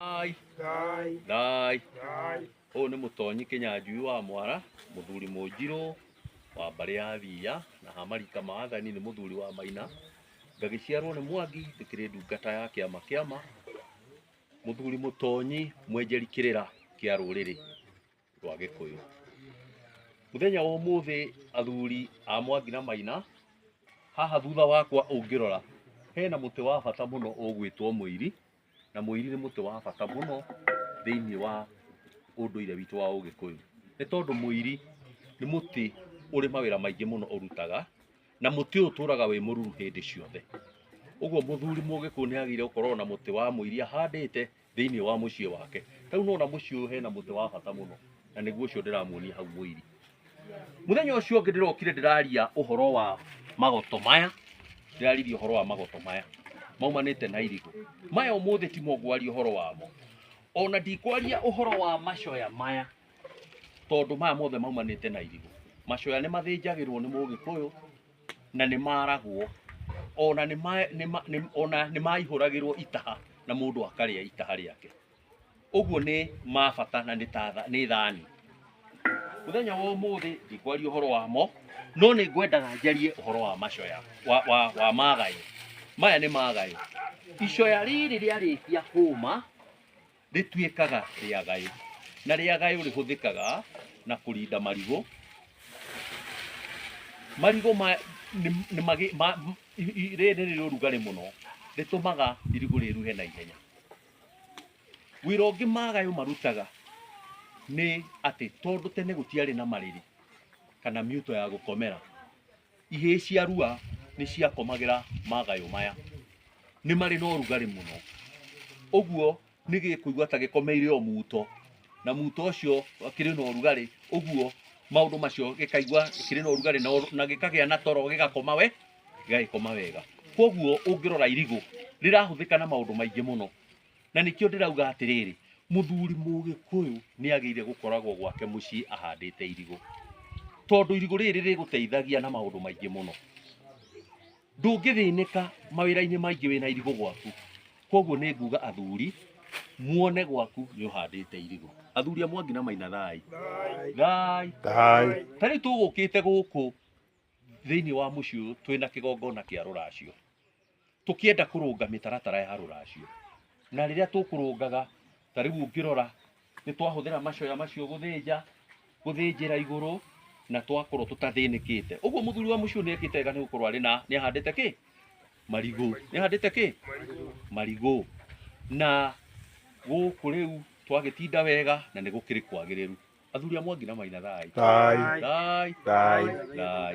Thai. Thai. Ũyũ nĩ mũtonyi kĩnyanjui wa mwara mũthuri mũnjirũ wa mbarĩ ya thiya na hamarika ma athani nĩ mũthuri wa maina ngagĩciarwo nĩ mwangi ndĩkĩrĩ ndungata ya kĩama kĩama mũthuri mũtonyi mwenjeri kĩrĩra kĩa rũrĩrĩ rwa gĩkũyũ mũthenya wa ũmũthĩ athuri a mwangi na maina haha thutha wakwa ũngĩrora hena mũtĩ wa bata mũno ũgwĩtwo mũiri na mũiri nĩ mũtĩ wa bata mũno thĩinĩ wa ũndũire witũ wa ũgĩkũyũ nĩ tondũ mũiri nĩ mũtĩ ũrĩ mawĩra maingĩ mũno ũrutaga na mũtĩ ũyũ ũtũraga wĩ mũruru hĩndĩ ciothe ũguo mũthuri mũgĩkũyũ nĩ agĩrĩire gũkorwo na mũtĩ wa mũiri ahandĩte thĩinĩ wa mũciĩ wake ta rĩu nona mũciĩ ũyũ hena mũtĩ wa bata mũno na nĩguo ũcio ndĩramuonia hau mũiri mũthenya ũcio ũngĩ ndĩrokire ndĩraria ũhoro wa magoto maya ndĩraririe ũhoro wa magoto maya maumanĩte na irigũ maya ũmũthĩ ti mogwaria ũhoro wamo ona ndikwaria ũhoro wa macoya maya tondũ maya mothe maumanĩte na irigũ macoya nĩ mathĩnjagĩrwo nĩ mũgĩkũyũ na nĩ maragwo ona nĩ ma- nĩ ma- nĩ- ona nĩ maihũragĩrwo itaha na mũndũ akarĩa itaha rĩake ũguo nĩ ma bata na nĩ ta tha- nĩ thani mũthenya wa ũmũthĩ ndikwaria ũhoro wamo no nĩ ngwendaga njarie ũhoro wa macoya wa, wa, wa magayo maya nĩ magayo icoya rĩrĩ rĩarĩkia hũma Rĩtuĩkaga rĩagayũ, na rĩagayũ rĩhũthĩkaga na kũrinda marigũ. Marigũ maya rĩrĩ nĩ rĩrĩ ũrugarĩ mũno, rĩtũmaga irigũ rĩruhe na ihenya. Wĩra ũngĩ magayũ marutaga nĩ atĩ, tondũ tene gũtiarĩ na marĩrĩ kana mĩito ya gũkomera. ihĩĩ cia rua nĩ ciakomagĩra magayũ maya nĩ marĩ na ũrugarĩ mũno ũguo nĩ gĩkũigua ta gĩkomeire o muto na muto ũcio kĩrĩ na ũrugarĩ ũguo maũndũ macio gĩkaigua kĩrĩ na ũrugarĩ na ũru- na gĩkagĩa na toro gĩgakoma we gĩgagĩkoma wega koguo ũngĩrora irigũ rĩrahũthĩka na maũndũ maingĩ mũno na nĩkĩo ndĩrauga atĩrĩrĩ mũthuri mũgĩkũyũ nĩ agĩire gũkoragwo gwake mũciĩ ahandĩte irigũ tondũ irigũ rĩrĩ rĩgũteithagia na maũndũ maingĩ mũno ndũngĩthĩnĩka mawĩra-inĩ maingĩ wĩna irigũ gwaku koguo nĩ nguga athuri muone gwaku nĩ ũhandĩte irigũ athuri a mwangi na maina thai thai Thai. ta rĩu tũgũkĩte gũkũ thĩinĩ wa mũciĩ ũyũ twĩna kĩgongona kĩa rũracio tũkĩenda kũrũnga mĩtaratara ya rũracio na rĩrĩa tũkũrũngaga ta rĩu ũngĩrora nĩ twahũthĩra macoya macio gũthĩnja gũthĩnjĩra igũrũ na twakorwo tũtathĩnĩkĩte ũguo mũthuri wa mũciĩ ũyũ nĩekĩte wega nĩ gũkorwo arĩ na nĩ ahandĩte kĩ marigũ nĩ ahandĩte kĩ marigũ na gũkũ rĩu twagĩtinda wega na nĩ gũkĩrĩ kwagĩrĩru athuri a mwangi na maina thai Thai. thai Thai. thai